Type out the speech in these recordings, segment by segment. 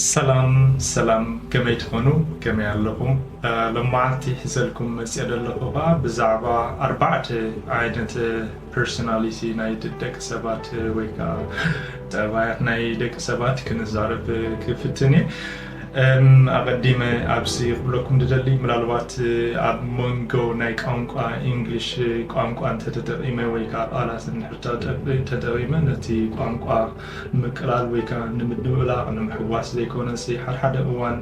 ሰላም ሰላም ከመይ ትኾኑ ከመይ ኣለኹም ሎማዓንቲ ሒዘልኩም መጽየ ደለኹ ኸኣ ብዛዕባ ኣርባዕተ ዓይነት ፐርሰናሊቲ ናይ ደቂ ሰባት ወይ ከኣ ጠባያት ናይ ደቂ ሰባት ክንዛረብ ክፍትን እየ ኣቐዲመ ኣብዚ ክብለኩም ድደሊ ምናልባት ኣብ መንጎ ናይ ቋንቋ ኢንግሊሽ ቋንቋ እንተተጠቒመ ወይ ከኣ ቃላት እንድሕር ተጠቒመ ነቲ ቋንቋ ንምቅላል ወይ ከኣ ንምድብላቕ ንምሕዋስ ዘይኮነሲ ሓድሓደ እዋን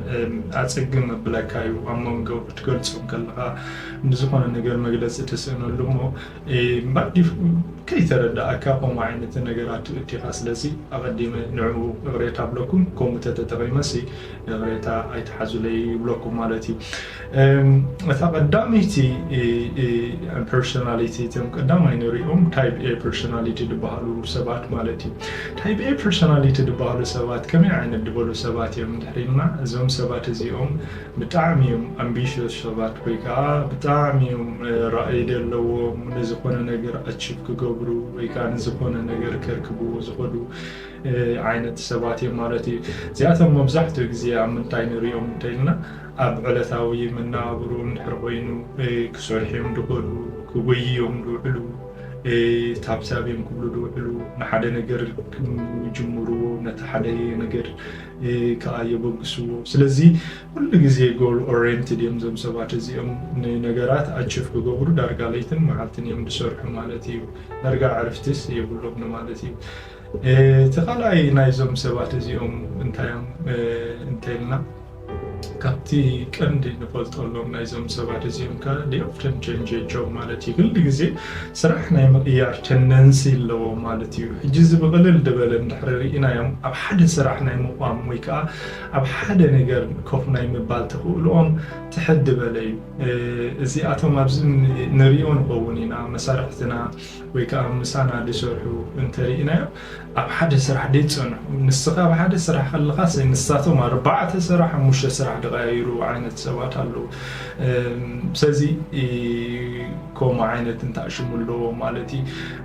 ኣጸግም መብለካ እዩ ኣብ መንጎ ክትገልጾም ከለኻ ንዝኾነ ነገር መግለጺ ትስእነሉ እሞ ባዲፉ ከይተረዳኣካ ከምኡ ዓይነት ነገራት ትእቲኻ ስለዚ ኣቐዲመ ንዕኡ እቕሬታ ኣብለኩም ከምኡ ተተጠቒመሲ እቕሬታ ኣይትሓዙለይ ይብለኩም ማለት እዩ እታ ቀዳመይቲ ፐርሶናሊቲ እቶም ቀዳማይ ንሪኦም ታይፕ ኤ ፐርሶናሊቲ ዝበሃሉ ሰባት ማለት እዩ ታይፕ ኤ ፐርሶናሊቲ ዝበሃሉ ሰባት ከመይ ዓይነት ዝበሉ ሰባት እዮም ድሕሪልና እዞም ሰባት እዚኦም ብጣዕሚ እዮም ኣምቢሽስ ሰባት ወይ ከዓ ብጣዕሚ እዮም ራእይ ዘለዎም ንዝኾነ ነገር ኣቺቭ ክገብሩ ወይ ከዓ ንዝኾነ ነገር ከርክቡ ዝኸዱ ዓይነት ሰባት እዮም ማለት እዩ እዚኣቶም መብዛሕትኡ ግዜ ኣብ ምንታይ ንሪኦም እንተኢልና ኣብ ዕለታዊ መነባብሮኦም ድሕሪ ኮይኑ ክሰርሑዮም ድኸእሉ ክጎይዩዮም ድውዕሉ ታብታብዮም ክብሉ ድውዕሉ ንሓደ ነገር ክጅምርዎ ነቲ ሓደ ነገር ከዓ የበግስዎ ስለዚ ኩሉ ግዜ ጎል ኦሬንትድ እዮም ዞም ሰባት እዚኦም ንነገራት ኣችፍ ክገብሩ ዳርጋ ለይትን መዓልትን እዮም ዝሰርሑ ማለት እዩ ዳርጋ ዕርፍትስ የብሎም ማለት እዩ እቲ ካልኣይ ናይዞም ሰባት እዚኦም እንታዮም እንተልና ካብቲ ቀንዲ ንፈልጠሎም ናይዞም ሰባት እዚኦም ከ ሊኦፍተን ቸንጀጆ ማለት እዩ ኩሉ ግዜ ስራሕ ናይ ምቕያር ቸንደንሲ ኣለዎ ማለት እዩ ሕጂ እዚ ብቕልል ድበለ እንድሕሪ ርኢናዮም ኣብ ሓደ ስራሕ ናይ ምቋም ወይ ከዓ ኣብ ሓደ ነገር ኮፍ ናይ ምባል ተኽእልኦም ትሕት ድበለ እዩ እዚኣቶም ኣብዚ ንሪኦ ንኸውን ኢና መሳርሕትና ወይ ከኣ ምሳና ዝሰርሑ እንተ ርኢናዮም ኣብ ሓደ ስራሕ ዘይጸንሑ ንስኻ ኣብ ሓደ ስራሕ ከለኻስ ንሳቶም ኣርባዕተ ስራሕ ሓሙሽተ ስራሕ ዝቐያይሩ ዓይነት ሰባት ኣለዉ ስለዚ ከምኡ ዓይነት እንታይ ሽሙ ኣለዎ ማለት እዩ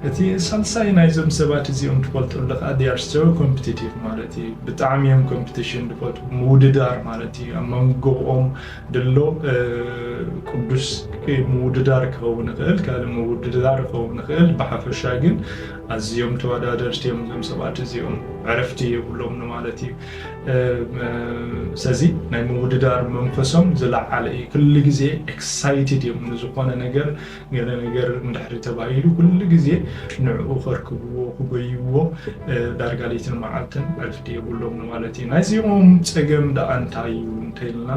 እቲ ሳልሳይ ናይዞም ሰባት እዚኦም ትፈልጠሉ ከዓ ዲኣር ሶ ኮምፒቲቲቭ ማለት እዩ ብጣዕሚ እዮም ኮምፒቲሽን ዝፈትዉ ምውድዳር ማለት እዩ ኣብ መንጎኦም ድሎ ቅዱስ ምውድዳር ክኸውን ይኽእል፣ ካልእ ምውድዳር ክኸውን ይኽእል። ብሓፈሻ ግን ኣዝዮም ተወዳደርቲ እዮም እዞም ሰባት እዚኦም፣ ዕረፍቲ የብሎም ንማለት እዩ። ስለዚ ናይ ምውድዳር መንፈሶም ዝለዓለ እዩ። ኩሉ ግዜ ኤክሳይትድ እዮም ንዝኾነ ነገር ገለ ነገር እንድሕሪ ተባሂሉ ኩሉ ግዜ ንዕኡ ከርክብዎ ክጎይዎ ዳርጋ ለይትን መዓልትን ዕርፍቲ የብሎም ንማለት እዩ። ናይዚኦም ጸገም ደኣ እንታይ እዩ እንተይልና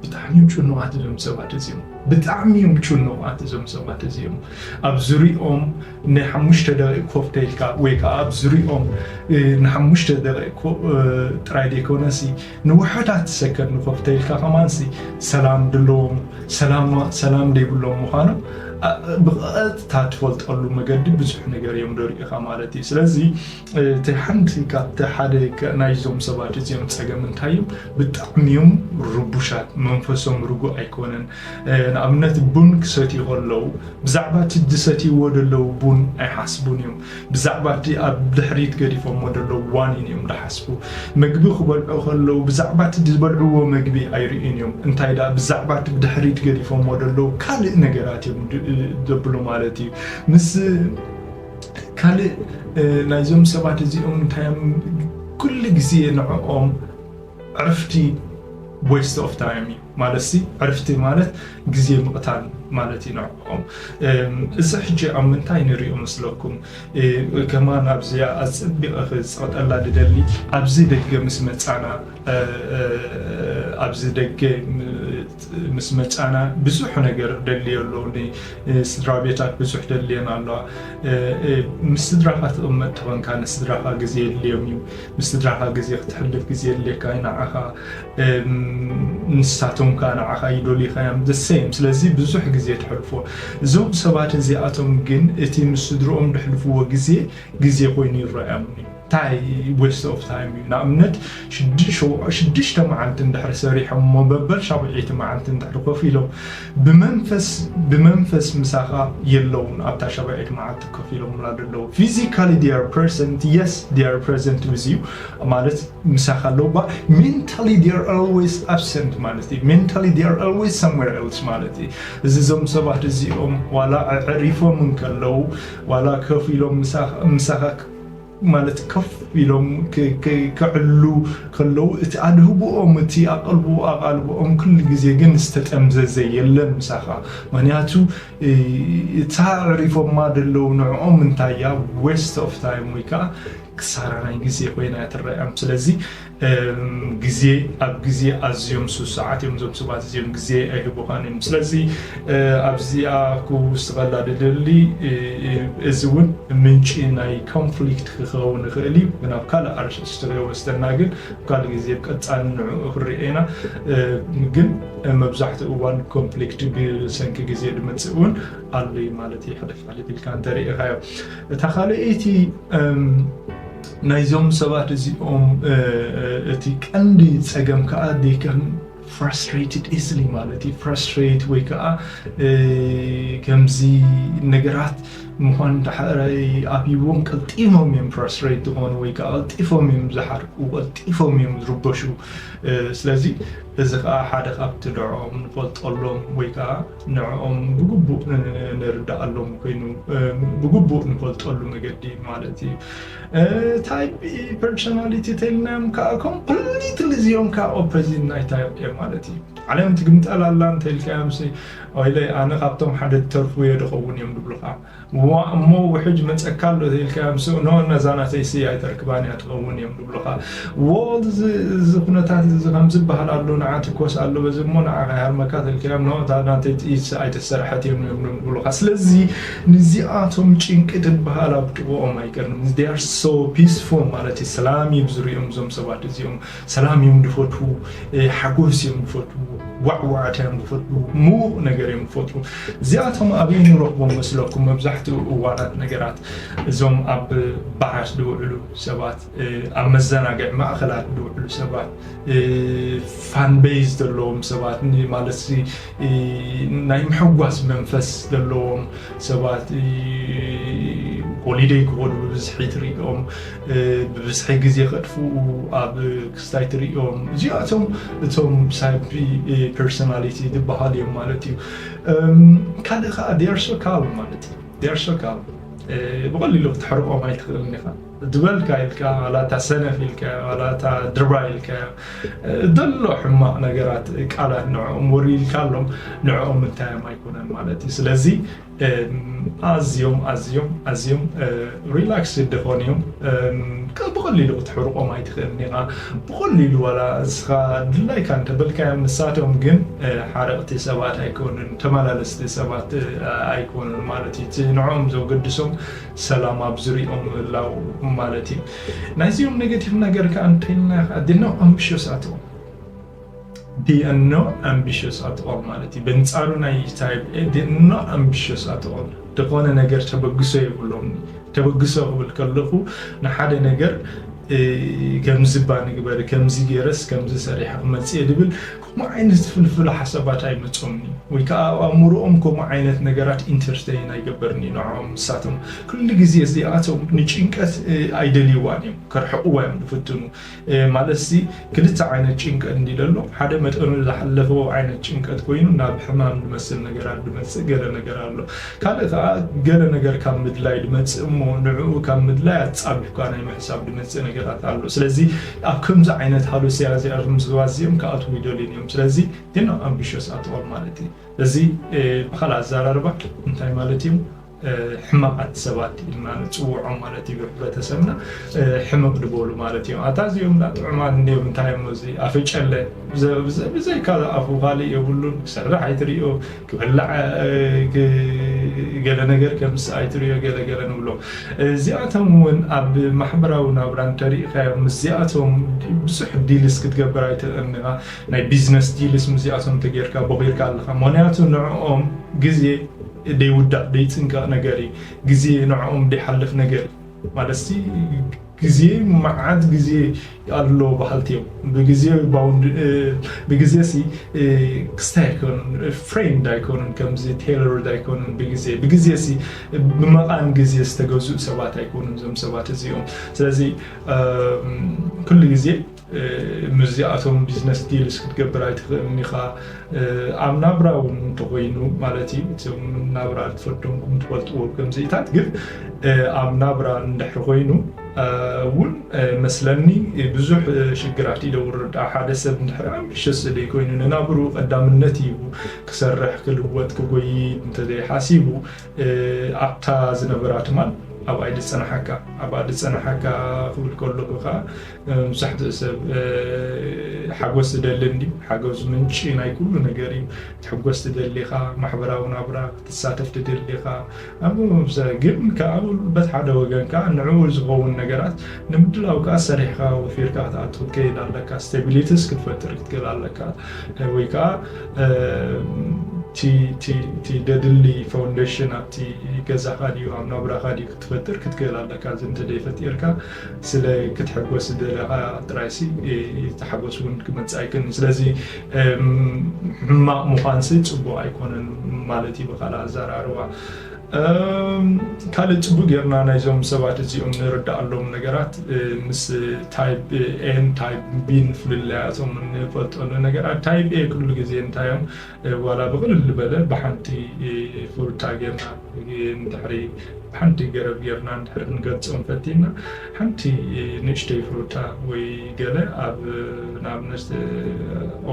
ብጣዕሚ እዮም ጭኑቓት እዞም ሰባት እዚኦም ብጣዕሚ እዮም ጭኑቓት እዞም ሰባት እዚኦም ኣብ ዝሪኦም ናይ ሓሙሽተ ደቂቅ ኮፍ ተይልካ ወይ ከዓ ኣብ ዝሪኦም ንሓሙሽተ ደቂቅ ጥራይ ዘይኮነሲ ንውሑዳት ሰከት ንኹል ተይልካ ከማንሲ ሰላም ድለዎም ሰላም ደይብሎም ምዃኖም ብቐጥታ ትፈልጠሉ መገዲ ብዙሕ ነገር እዮም ዶ ርኢኻ ማለት እዩ። ስለዚ እቲ ሓንቲ ካብቲ ሓደ ናይዞም ሰባት እዚኦም ፀገም እንታይ እዩ ብጣዕሚ እዮም ርቡሻት፣ መንፈሶም ርጉእ ኣይኮነን። ንኣብነት ቡን ክሰትዩ ከለው ብዛዕባ እቲ ዝሰትይዎ ደለው ቡን ኣይሓስቡን እዮም። ብዛዕባ እቲ ኣብ ድሕሪት ገዲፎሞ ዘለዉ ዋኒን እዮም ዝሓስቡ። መግቢ ክበልዑ ከለዉ ብዛዕባ እቲ ዝበልዕዎ መግቢ ኣይርእዩን እዮም፣ እንታይ ደኣ ብዛዕባ እቲ ብድሕሪት ገዲፎሞ ዘለዉ ካልእ ነገራት እዮም ዘብሉ ማለት እዩ። ምስ ካልእ ናይዞም ሰባት እዚኦም እንታይ እዮም ኩሉ ግዜ ንዕኦም ዕርፍቲ ዌስት ኦፍ ታይም እዩ። ማለትሲ ዕርፍቲ ማለት ግዜ ምቕታል ማለት እዩ ንዕኦም። እዚ ሕጂ ኣብ ምንታይ ንሪኦ መስለኩም? ከማን ኣብዚኣ ኣጸቢቐ ክጽቕጠላ ድደሊ ኣብዚ ደገ ምስ መጻና ኣብዚ ደገ ምስ መጻና ብዙሕ ነገር ደልዮ ኣሎ ንስድራ ቤታት ብዙሕ ደልየን ኣለዋ ምስ ስድራኻ ትቕመጥ ተኾንካ ንስድራኻ ግዜ የድልዮም እዩ ምስ ስድራኻ ግዜ ክትሕልፍ ግዜ የድልየካ እዩ ንዓኻ ንሳቶም ከኣ ንዓኻ ይደልዩኻዮም the same ስለዚ ብዙሕ ግዜ ተሕልፎ እዞም ሰባት እዚኣቶም ግን እቲ ምስ ስድርኦም ድሕልፍዎ ግዜ ግዜ ኮይኑ ይረኣዮም እዩ እንታይ ዌስት ኦፍ ታይም እዩ ንኣብነት ሽዱሽተ መዓልቲ እንድሕሪ ሰሪሖም እሞ በበል ሻብዒይቲ መዓልቲ እንድሕሪ ኮፍ ኢሎም ብመንፈስ ብመንፈስ ምሳኻ የለውን ኣብታ ሻብዒት መዓልቲ ኮፍ ኢሎሙላ ደለዉ ፊዚካሊ ዴይ ኣር ፕረዘንት የስ ዴይ ኣር ፕረዘንት ዊዝ ዩ ማለት ምሳኻ ኣለዉ እባ ሜንታሊ ዴይ ኣር ኣልዌይስ ኣብሰንት ማለት እዩ ሜንታሊ ዴይ ኣር ኣልዌይስ ሳምዌር ኤልስ ማለት እዩ እዚ እዞም ሰባት እዚኦም ዋላ ኣዕሪፎም እንከለዉ ዋላ ኮፍ ኢሎም ምሳኻ ምሳኻ ማለት ከፍ ኢሎም ክዕሉ ከለዉ እቲ ኣድህቦኦም እቲ ኣቀልቦ ኣቓልቦኦም ኩሉ ግዜ ግን ዝተጠምዘዘ የለን ምሳኻ ምክንያቱ እታ ኣዕሪፎማ ደለዉ ንዕኦም እንታይ እያ ዌስት ኦፍ ታይም ወይ ከኣ ክሳራ ናይ ግዜ ኮይና እያ ትረኣዮም ስለዚ ግዜ ኣብ ግዜ ኣዝዮም ስሱዓት እዮም እዞም ሰባት እዚኦም ግዜ ኣይህቡኻን እዮም ስለዚ ኣብዚኣ ክውስኸላ ድደሊ እዚ እውን ምንጪ ናይ ኮንፍሊክት ክኸውን ይኽእል እዩ ግን ኣብ ካልእ ኣርእስቲ ከይወስደና ግን ካልእ ግዜ ቀፃሊ ንዕኡ ክንርኤ ኢና ግን መብዛሕትኡ እዋን ኮንፍሊክት ብሰንኪ ግዜ ድመፅእ እውን ኣሎ ማለት እዩ ሕልፍ ሕልፍ ኢልካ እንተሪኢኻዮ እታ ካልኣይቲ ናይዞም ሰባት እዚኦም እቲ ቀንዲ ጸገም ከኣ they can frustrated easily ማለት እዩ frustrate ወይ ከኣ ከምዚ ነገራት ምዃን እንተሓረይ ኣብዎም ቀልጢፎም እዮም frustrate ዝኾኑ ወይ ከኣ ቀልጢፎም እዮም ዝሓርቁ ቀልጢፎም እዮም ዝርበሹ ስለዚ እዚ ከኣ ሓደ ካብቲ ድዖም ንፈልጠሎም ወይ ከኣ ንዕኦም ብግቡእ ንርድኣሎም ኮይኑ ብግቡእ ንፈልጠሉ መገዲ ማለት እዩ። ታይፕ ኢ ፐርሶናሊቲ ተልናዮም ከዓ ኮምፕሊትሊ እዚኦም ከዓ ኦፖዚት ናይ ታይፕ ኤ ማለት እዩ። ዓለም ትግምጠል ኣላ እንተልካዮምሲ ወይለይ ኣነ ካብቶም ሓደ ተርፉ እየ ድኸውን እዮም ድብሉኻ። እዋእ እሞ ውሕጅ መጸካ ኣሎ ተይልካዮም ስእ ን ነዛ ናተይ ሲ ኣይተርክባን እያ ትኸውን እዮም ድብሉኻ ዎል እዚ ኩነታት እዚ ከምዚ በሃል ኣሎ ንዓ ትኮስ ኣሎ በዚ እሞ ንዓ ከይሃርመካ ተልካዮም ን እታ ናተይ ጥይት ሲ ኣይተሰርሐት እዮም እዮም ድብሉኻ ስለዚ ንዚኣቶም ጭንቂ ትበሃል ኣብ ጥቕኦም ኣይቀርም they are so peaceful ማለት እዩ ሰላም እዩ ዝርኦም እዞም ሰባት እዚኦም ሰላም እዮም ዝፈትዉ፣ ሓጎስ እዮም ዝፈትዉ፣ ዋዕዋዕታ እዮም ዝፈትዉ፣ ምዉቕ ነገር እዮም ዝፈትዉ። እዚኣቶም ኣበይ ንረኽቦም መስለኩም? መብዛሕትኡ እዋናት ነገራት እዞም ኣብ ባራት ዝውዕሉ ሰባት፣ ኣብ መዘናግዒ ማእከላት ዝውዕሉ ሰባት፣ ፋን ቤዝ ዘለዎም ሰባት ማለት ናይ ምሕጓስ መንፈስ ዘለዎም ሰባት ሆሊደይ ክኾኑ ብብዝሒ ትሪኦም። ብብዝሒ ግዜ ከጥፍኡ ኣብ ክስታይ ትርእዮም እዚኣቶም እቶም ሳቢ ፐርሶናሊቲ ዝበሃል እዮም ማለት እዩ ካልእ ከዓ ዲያርሶ ካል ማለት እዩ ዲያርሶ ካል ብቐሊሉ ክትሕርቆም ኣይትኽእልን ኢኻ ዝበልካ ኢልካ ዋላ እታ ሰነፍ ኢልካ ዋላ እታ ድርባ ኢልካ ዘሎ ሕማቕ ነገራት ቃላት ንዕኦም ወሪልካ ኣሎም ንዕኦም እንታዮም ኣይኮነን ማለት እዩ ስለዚ ኣዝዮም ኣዝዮም ኣዝዮም ሪላክስድ ዝኾኑ እዮም ብቐሊሉ ክትሕርቆም ኣይትኽእልን ኢኻ ብቐሊሉ ዋላ እስኻ ድላይካ እንተበልካዮም ንሳቶም ግን ሓረቕቲ ሰባት ኣይኮኑን ተመላለስቲ ሰባት ኣይኮኑን ማለት እዩ እቲ ንዕኦም ዘገድሶም ሰላም ኣብ ዝሪኦም ምህላው ማለት እዩ ናይዚኦም ኔጌቲቭ ነገር ከዓ እንተይልና ዲኖ ኣምብሽዮሳት እዮም ዲእኖ ኣምቢሸስ ኣትኦል ማለት እዩ በንጻሩ ናይ ታይብ ኤ ዲእኖ ኣምቢሸስ ኣትኦል ደኾነ ነገር ተበግሶ የብሎም ተበግሶ ክብል ከለኹ ንሓደ ነገር ከምዚ እባ ንግበር ከምዚ ገይረስ ከምዚ ሰሪሐ ክመፅእ ድብል ከምኡ ዓይነት ፍልፍል ሓሳባት ኣይመፆምኒ ወይ ከዓ ኣብ ኣእምሮኦም ከምኡ ዓይነት ነገራት ኢንተርተይን ኣይገበርኒ ንዖም ንሳቶም ኩሉ ግዜ እዚኣቶም ንጭንቀት ኣይደልይዋን እዮም ከርሕቕዋ እዮም ዝፍትኑ ማለትሲ ክልተ ዓይነት ጭንቀት እንድዩ ደሎ ሓደ መጠኑ ዝሓለፎ ዓይነት ጭንቀት ኮይኑ ናብ ሕማም ድመስል ነገራት ድመጽእ ገለ ነገር ኣሎ ካልእ ከኣ ገለ ነገር ካብ ምድላይ ድመጽእ እሞ ንዕኡ ካብ ምድላይ ኣጻቢብካ ናይ ምሕሳብ ድመጽእ ነገራት ኣሎ ስለዚ ኣብ ከምዚ ዓይነት ሃሉስያ እዚኣ እዞም ሰባት እዚኦም ክኣትዉ ይደልዩን እዮም ስለዚ ግን ኣምቢሽስ ኣተዋል ማለት እዩ እዚ ብካልእ ኣዘራርባ እንታይ ማለት እዩ ሕማቃት ሰባት ኢልና ንጽውዖም ማለት እዩ ብሕብረተሰብና ሕምቅ ድበሉ ማለት እዮም ኣታ እዚኦም ዳ ጥዑማት እንድዮም እንታይ እሞ እዚ ኣፈጨለ ብዘይካ ኣፉ ካልእ የብሉን ክሰርሕ ኣይትሪኦ ክበላዕ ገለ ነገር ከምስ ኣይትሪኦ ገለ ገለ ንብሎ እዚኣቶም እውን ኣብ ማሕበራዊ ናብራ እንተሪኢካዮ ምስዚኣቶም ብዙሕ ዲልስ ክትገብር ኣይትእን ኢኻ ናይ ቢዝነስ ዲልስ ምስዚኣቶም ተጌርካ ቦኺርካ ኣለኻ ምክንያቱ ንዕኦም ግዜ ደይውዳእ ደይጽንቀቕ ነገር እዩ። ግዜ ንዕኦም ደይሓልፍ ነገር እዩ። ማለትሲ ግዜ መዓት ግዜ ኣሎ በሃልቲ እዮም። ብግዜ ብግዜሲ ክስታይ ኣይኮኑን፣ ፍሬንድ ኣይኮኑን፣ ከምዚ ቴይለርድ ኣይኮኑን ብግዜ ብግዜሲ ብመቓን ግዜ ዝተገዝኡ ሰባት ኣይኮኑን እዞም ሰባት እዚኦም። ስለዚ ኩሉ ግዜ ምስዚኣቶም ቢዝነስ ዲልስ ክትገብር ኣይትኽእልን ኢኻ። ኣብ ናብራ እውን እንተኾይኑ ማለት እዩ እቶም ናብራ ትፈዶምኩም ትፈልጥዎ ከምዚኢታት ግን ኣብ ናብራ እንድሕር ኮይኑ እውን መስለኒ ብዙሕ ሽግራት እዩ ደውርድ ሓደ ሰብ እንድሕር ኣምቢሸስ ዘይኮይኑ ንናብሩ ቀዳምነት ይቡ ክሰርሕ ክልወጥ ክጎይ እንተዘይሓሲቡ ኣብታ ዝነበራ ትማል ኣብኣ ድፀናሓካ ኣብኣ ድፀናሓካ ክብል ከለኹ ከዓ መብዛሕትኡ ሰብ ሓጎስ ዝደሊ እንድዩ። ሓጎስ ምንጪ ናይ ኩሉ ነገር እዩ። ክትሕጎስ ትደሊ ኢኻ፣ ማሕበራዊ ናብራ ክትሳተፍ ትደሊ ኢኻ። ኣብ ግን ከኣ በት ሓደ ወገን ከኣ ንዕኡ ዝኸውን ነገራት ንምድላው ከኣ ሰሪሕካ ወፊርካ ክትኣቱ ክትከይድ ኣለካ። ስቴቢሊቲስ ክትፈጥር ክትክእል ኣለካ ወይ ከኣ እቲ ደድሊ ፋውንዴሽን ኣብቲ ገዛኻ ድዩ ኣብ ናብራኻ ድዩ ክትፈጥር ክትክእል ኣለካ እዚ እንተደይፈጢርካ ስለ ክትሕጎስ ዝደለኻ ጥራይሲ እቲ ሓጎስ እውን ክመጽእ ኣይክእልን። ስለዚ ሕማቕ ምዃንሲ ጽቡቕ ኣይኮነን ማለት እዩ ብካልእ ኣዘራርባ። ካልእ ጽቡቕ ጌርና ናይዞም ሰባት እዚኦም ንርዳኣሎም ነገራት ምስ ታይፕ ኤን ታይፕ ቢን ፍልልያቶም ንፈልጠሉ ነገራት ታይፕ ኤ ኩሉ ግዜ እንታይ እዮም ዋላ ብቕልል ልበለ ብሓንቲ ፉርጣ ጌርና ንድሕሪ ሓንቲ ገረብ ጌርና ንድሕሪ ክንገልጾም ፈቲና ሓንቲ ንእሽተይ ፉርጣ ወይ ገለ ኣብ ንኣብነት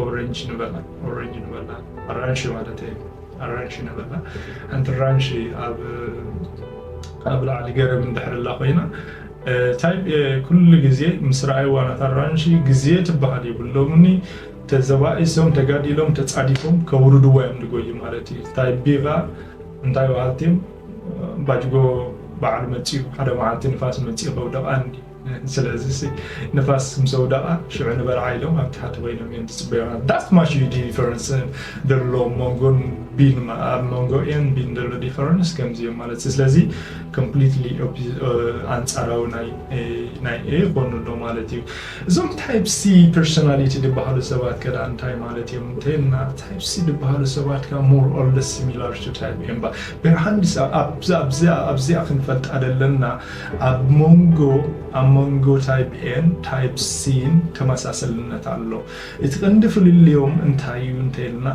ኦረንጅ ንበላ ኦረንጅ ንበላ ኣራንሺ ማለት እዩ ኣራንሺ ንበላ ሓንቲ ኣራንሺ ኣብ ኣብ ላዕሊ ገረብ እንድሕር ላ ኮይና እንታይ ኩሉ ግዜ ምስ ረኣይዋ ናታ ኣራንሺ ግዜ ትበሃል የብሎምኒ ተዘባኢሶም ተጋዲሎም ተጻዲፎም ከውርድዎ እዮም ድጎዩ ማለት እዩ ታይ ቢጋ እንታይ ባሃልቲም ባጅጎ ባዓሉ መጺኡ ሓደ ማዓልቲ ንፋስ መጺኡ ከውደቃ እንዲ ስለዚሲ ንፋስ ምስ ኣውደቃ ሽዑ ንበልዓ ኢሎም ኣብ ታሕቲ ኮይኖም እዮም ዝጽበዩና ዳት ማች እዩ ዲፈረንስ ደሎ መንጎን ቢን ኣብ መንጎ ኤን ቢን ደሎ ዲፈረንስ ከምዚ እዮም ማለት ስለዚ ኮምፕሊትሊ ኣንጻራዊ ናይ ኤ ይኮኑ ኣሎ ማለት እዩ እዞም ታይፕ ሲ ፐርሶናሊቲ ድበሃሉ ሰባት ከዳኣ እንታይ ማለት እዮም እንተይልና ታይፕ ሲ ድበሃሉ ሰባት ከኣ ሞር ኦር ለስ ሲሚላር ቱ ታይፕ ኤ እባ ብርሃንስ ኣብዛ ኣብዛ ኣብዚኣ ክንፈልጣ ዘለና ኣብ ሞንጎ ኣብ ሞንጎ ታይፕ ኤን ታይፕ ሲን ተመሳሰልነት ኣሎ እቲ ቀንዲ ፍልልዮም እንታይ እዩ እንተይልና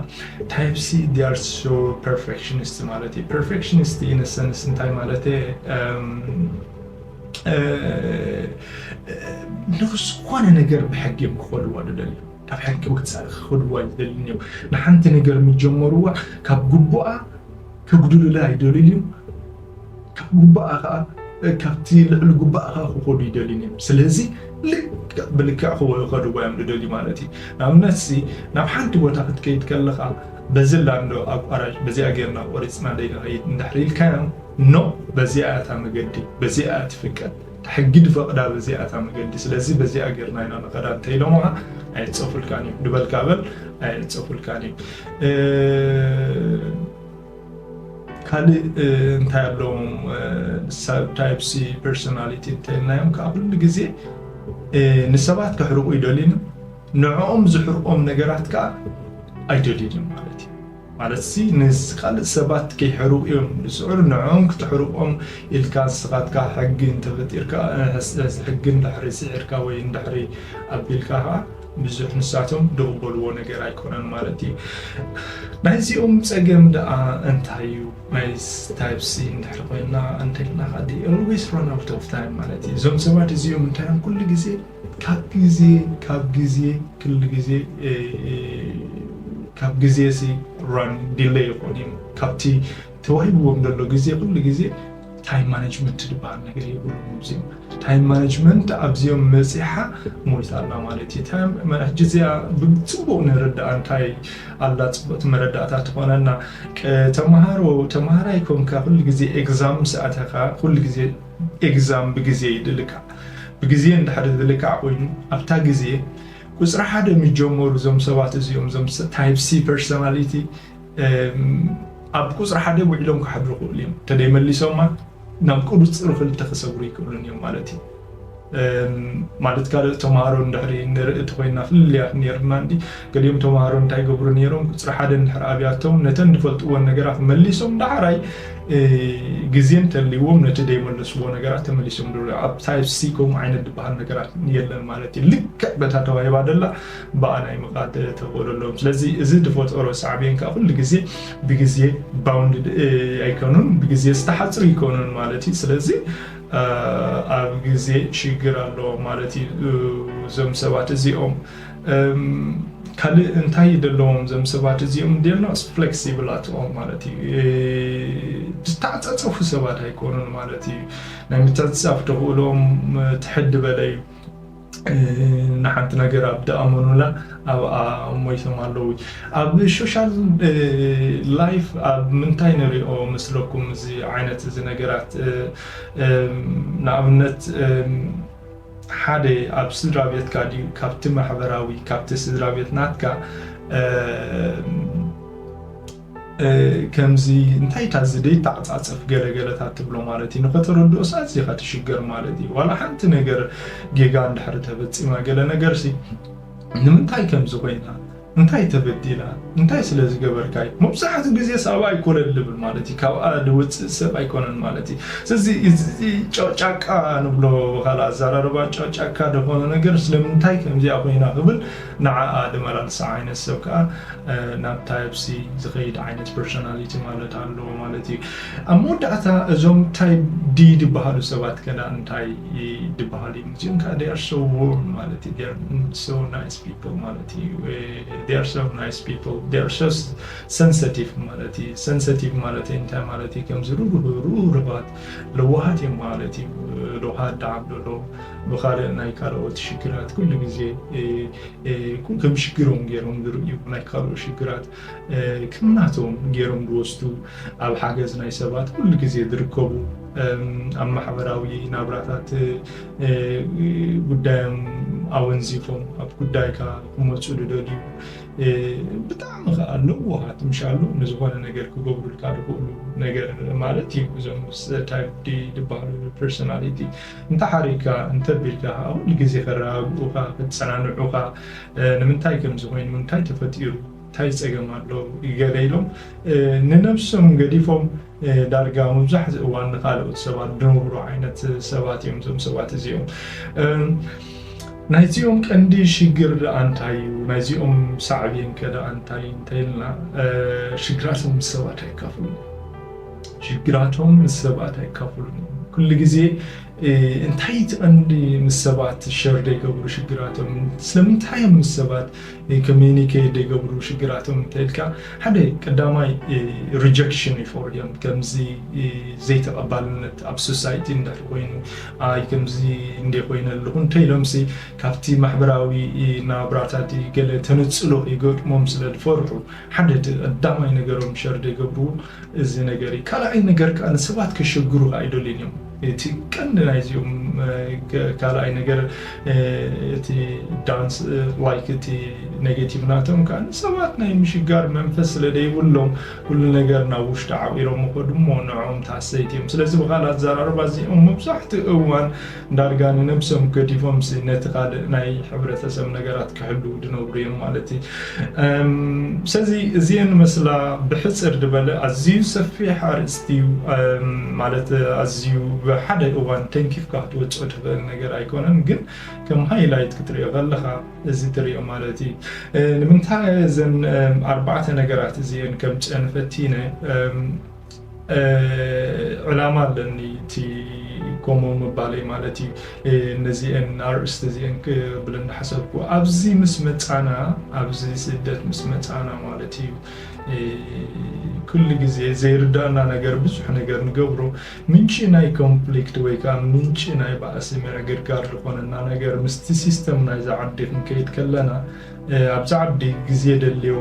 ታይፕ ሲ ዲያር ሶ ፐርፌክሽኒስት ማለት እዩ ፐርፌክሽኒስት ኢነሰንስ እንታይ ማለት እየ ንዝኾነ ነገር ብሕጊ እዮም ክኸድዋ ዝደልዩ ካብ ሕጊ ወፃኢ ክኸድዋ ኣይደልዩን እዮም ንሓንቲ ነገር ምጀመርዋ ካብ ግቡኣ ከጉድሉላ ኣይደልዩን እዮም ካብ ግቡኣ ከዓ ካብቲ ልዕሊ ግቡኣ ከዓ ክኸዱ ይደልዩን እዮም ስለዚ ልክዕ ብልክዕ ክኸድዋ እዮም ዝደልዩ ማለት እዩ ንኣብነት ናብ ሓንቲ ቦታ ክትከይድ ከለኻ በዚ ላንዶ ኣቋራጭ በዚኣ ጌርና ቆሪፅና ደይንኸይድ እንድሕር ኢልካዮም ኖእ በዚኣ እያ እታ መገዲ፣ በዚኣ እያ እቲ ፍቃድ፣ እታ ሕጊ ድፈቕዳ በዚኣ እታ መገዲ፣ ስለዚ በዚኣ ጌርና ኢና ንኸዳ እንተ ኢሎምኻ ኣየጸፉልካን እዮም ድበልካ በል ኣየጸፉልካን እዮም። ካልእ እንታይ ኣለዎም ሳብታይፕሲ ፐርሶናሊቲ እንተልናዮም ከዓ ኩሉ ግዜ ንሰባት ከሕርቑ ይደልዩን ንዕኦም ዝሕርቆም ነገራት ከዓ ኣይደልዩን ማለት እዩ ማለትሲ ምስ ካልእ ሰባት ከይሕርቁ እዮም ዝጽዕሩ ንዕኦም ክተሕርቆም ኢልካ ንስካትካ ሕጊ እንተፈጢርካ ሕስሕስ ሕጊ እንድሕሪ ስዒርካ ወይ እንድሕሪ ኣቢልካ ከኣ ብዙሕ ንሳቶም ድቅበልዎ ነገር ኣይኮነን ማለት እዩ ናይዚኦም ጸገም ደኣ እንታይ እዩ ናይስ ታይፕሲ እንድሕሪ ኮይና እንተልናካ they always run out of time ማለት እዩ እዞም ሰባት እዚኦም እንታዮም ኩሉ ግዜ ካብ ግዜ ካብ ግዜ ክሉ ግዜ ካብ ግዜ ሲ ራን ዲለይ ይኮን እዩ ካብቲ ተዋሂብዎም ዘሎ ግዜ ኩሉ ግዜ ታይም ማነጅመንት ዝበሃል ነገር የብሎም ኣብዚኦም ታይም ማነጅመንት ኣብዚኦም መፂሓ ሞይታ ኣላ ማለት እዩ ታይም ሕጂ እዚኣ ብፅቡቅ ንርዳኣ እንታይ ኣላ ፅቡቅቲ መረዳእታ ትኾነና ተምሃሮ ተምሃራይ ኮንካ ኩሉ ግዜ ኤግዛም ምስ ኣተኻ ኩሉ ግዜ ኤግዛም ብግዜ ይድልካዕ ብግዜ እንድሕሪ ዝልካዕ ኮይኑ ኣብታ ግዜ ቁጽሪ ሓደ ምጀመሩ እዞም ሰባት እዚኦም እዞም ታይፕ ሲ ፐርሶናሊቲ ኣብ ቁጽሪ ሓደ ውዒሎም ክሓድሩ ክእሉ እዮም ተደይ መሊሶማ ናብ ቁጽሪ ክልተ ክሰግሩ ይክእሉን እዮም ማለት እዩ ማለት ካልኦት ተምሃሮ እንድሕሪ ንርኢ እንተኾይንና ፍልልያት ኔርና እንዲ ገሊኦም ተምሃሮ እንታይ ይገብሩ ኔሮም ቁጽሪ ሓደ እንድሕር ኣብያቶም ነተን ዝፈልጥዎን ነገራት መሊሶም ዳሕራይ ግዜ እንተልይዎም ነቲ ዘይመለስዎ ነገራት ተመሊሶም ዶ ኣብ ታይፕ ሲ ከምኡ ዓይነት ዝበሃል ነገራት የለን ማለት እዩ ልክዕ በታ ተዋሂባ ደላ ብኣ ናይ ምቃድ ተኽእሎ ኣለዎም ስለዚ እዚ ዝፈጠሮ ሳዕቤን ከዓ ኩሉ ግዜ ብግዜ ባውንድ ኣይከኑን ብግዜ ዝተሓፅሩ ይከኑን ማለት እዩ ስለዚ ኣብ ግዜ ሽግር ኣለዎም ማለት እዩ እዞም ሰባት እዚኦም ካልእ እንታይ ደለዎም እዞም ሰባት እዚኦም ዴርኖስ ፍሌክሲብል ኣትኦም ማለት እዩ ዝተዓፃፀፉ ሰባት ኣይኮኑን ማለት እዩ ናይ ምትዕፅፃፍ ተኽእሎም ትሕድ በለ እዩ ንሓንቲ ነገር ኣብ ድኣመኑላ ኣብኣ ሞይቶም ኣለዉ ኣብ ሾሻል ላይፍ ኣብ ምንታይ ንሪኦ መስለኩም እዚ ዓይነት እዚ ነገራት ንኣብነት ሓደ ኣብ ስድራ ቤትካ ድዩ ካብቲ ማሕበራዊ ካብቲ ስድራ ቤት ናትካ ከምዚ እንታይ እታ እዚ ደይተዓጻጸፍ ገለ ገለታት ትብሎ ማለት እዩ ንኸተረድኦስ ኣዚኻ ትሽገር ማለት እዩ ዋላ ሓንቲ ነገር ጌጋ እንድሕሪ ተፈጺማ ገለ ነገርሲ ንምንታይ ከምዚ ኮይና እንታይ ተበዲላ እንታይ ስለ ዝገበርካ እዩ መብዛሕትኡ ግዜ ሳባ ኣይኮነን ልብል ማለት እዩ ካብኣ ዝውፅእ ሰብ ኣይኮነን ማለት እዩ ስለዚ እዚ ጨቅጫቃ ንብሎ ካል ኣዘራርባ ጨቅጫካ ደኾነ ነገር ስለምንታይ ከምዚኣ ኮይና ክብል ንዓኣ ድመላልሳ ዓይነት ሰብ ከኣ ናብ ታይፕ ሲ ዝኸይድ ዓይነት ፐርሶናሊቲ ማለት ኣለዎ ማለት እዩ። ኣብ መወዳእታ እዞም ታይፕ ዲ ድበሃሉ ሰባት ከዳ እንታይ ድበሃሉ እዮም? እዚኦም ከኣ ዴይ ኣር ሶ ዎርም ማለት እዩ። ዴይ ኣር ሶ ናይስ ፒፕል ማለት እዩ። ዴይ ኣር ሶ ናይስ ፒፕል ዴይ ኣር ሶ ሰንሰቲቭ ማለት እዩ። ሰንሰቲቭ ማለት እንታይ ማለት እዩ? ከምዚ ርህሩሃት ለዋሃት እዮም ማለት እዩ ለውሃት ዳዓም ዶሎ ብካልእ ናይ ካልኦት ሽግራት ኩሉ ግዜ ከም ሽግሮም ገይሮም ዝርእዩ ናይ ካልኦት ሽግራት ከም ናቶም ገይሮም ዝወስዱ ኣብ ሓገዝ ናይ ሰባት ኩሉ ግዜ ዝርከቡ ኣብ ማሕበራዊ ናብራታት ጉዳዮም ኣወንዚፎም ኣብ ጉዳይካ ክመፁ ዝደልዩ ብጣዕሚ ከኣ ለዋሃት ምሻሉ ንዝኾነ ነገር ክገብሩልካ ድኽእሉ ነገር ማለት እዩ እዞም ምስ ታይፕ ዲ ድበሃሉ ፐርሶናሊቲ እንተሓሪካ እንተቢልካ ከኣ ኩሉ ግዜ ከረጋግኡኻ ከጸናንዑኻ ንምንታይ ከምዚ ኮይኑ እንታይ ተፈጢሩ እንታይ ጸገም ኣሎ ገለ ኢሎም ንነብሶም ገዲፎም ዳርጋ መብዛሕትኡ እዋን ንካልኦት ሰባት ድንብሩ ዓይነት ሰባት እዮም እዞም ሰባት እዚኦም ናይዚኦም ቀንዲ ሽግር ደኣ እንታይ እዩ ናይዚኦም ሳዕቤን ከ ደኣ እንታይ እንተይልና ሽግራቶም ምስ ሰባት ኣይካፍሉን ሽግራቶም ምስ ሰባት ኣይካፍሉን ኩሉ ግዜ እንታይ እቲ ቀንዲ ምስ ሰባት ሸር ዘይገብሩ ሽግራቶም ስለምንታይ እዮም ምስ ሰባት ኮሚኒኬት ዘይገብሩ ሽግራቶም እንተይልካ ሓደ ቀዳማይ ሪጀክሽን ይፈርዮም ከምዚ ዘይተቐባልነት ኣብ ሶሳይቲ እንድሕር ኮይኑ ኣይ ከምዚ እንዴ ኮይነ ኣለኹ እንተ ኢሎምሲ ካብቲ ማሕበራዊ ናብራታቲ ገለ ተነጽሎ ይገጥሞም ስለ ዝፈርሑ ሓደ እቲ ቀዳማይ ነገሮም ሸር ዘይገብርዎ እዚ ነገር እዩ ካልኣይ ነገር ከኣ ንሰባት ከሸግሩኻ ኣይደልዩን እዮም እቲ ቀንዲ ናይዚኦም ካልኣይ ነገር እቲ ዳንስ ላይክ እቲ ኔጌቲቭ ናቶም ከኣ ንሰባት ናይ ምሽጋር መንፈስ ስለ ዘይብሎም ኩሉ ነገር ናብ ውሽጢ ዓቂሮም ይኸዱ እሞ ንዕኦም ተሃሰይቲ እዮም። ስለዚ ብኻልእ ኣዘራርባ እዚኦም መብዛሕትኡ እዋን ዳርጋ ንነብሶም ገዲፎምሲ ነቲ ካልእ ናይ ሕብረተሰብ ነገራት ክሕልዉ ዝነብሩ እዮም ማለት እዩ። ስለዚ እዚኤን ይመስላ ብሕጽር ዝበለ ኣዝዩ ሰፊሕ ኣርእስቲ እዩ ማለት ኣዝዩ ብሓደ እዋን ተንኪፍካ ክትወጽኦ ትኽእል ነገር ኣይኮነን ግን ከም ሃይላይት ክትሪኦ ከለኻ እዚ ትሪኦ ማለት እዩ ንምንታይ እዘን ኣርባዕተ ነገራት እዚን ከም ጨን ፈቲነ ዕላማ ኣለኒ እቲ ከምኡ ምባለይ ማለት እዩ ነዚአን ኣርእስቲ እዚአን ክብል እናሓሰብኩ ኣብዚ ምስ መፃና ኣብዚ ስደት ምስ መፃና ማለት እዩ ኩሉ ግዜ ዘይርዳእና ነገር ብዙሕ ነገር ንገብሮ ምንጪ ናይ ኮንፍሊክት ወይ ከኣ ምንጪ ናይ ባእሲ ምዕግርጋር ዝኾነና ነገር ምስቲ ሲስተም ናይዛ ዓዲ ክንከይድ ከለና ኣብዛ ዓዲ ግዜ የደልዮ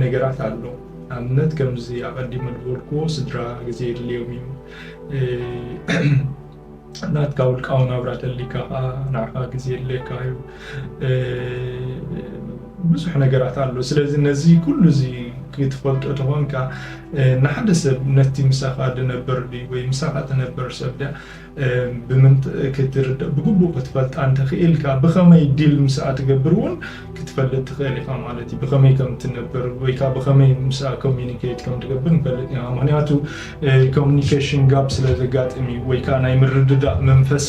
ነገራት ኣሎ ንኣብነት ከምዚ ኣቐዲመ ዝበልክዎ ስድራ ግዜ የድልዮም እዩ ናትካ ውልቃዊ ናብራ ተሊካ ከኣ ንዓኻ ግዜ የድልየካ እዩ ብዙሕ ነገራት ኣሎ ስለዚ ነዚ ኩሉ እዚ ክትፈልጦ ተኾንካ ንሓደ ሰብ ነቲ ምሳኻ ድነበር ድዩ ወይ ምሳኻ ትነበር ሰብ ድያ ብምንት ክትርድእ ብግቡእ ክትፈልጣ እንተኽኢልካ ብኸመይ ዲል ምስኣ ትገብር እውን ክትፈልጥ ትኽእል ኢኻ ማለት እዩ ብኸመይ ከም ትነበር ወይ ከዓ ብኸመይ ምስኣ ኮሚኒኬት ከም ትገብር ንፈልጥ ኢና ምክንያቱ ኮሚኒኬሽን ጋብ ስለ ዘጋጥም እዩ ወይ ከዓ ናይ ምርድዳእ መንፈስ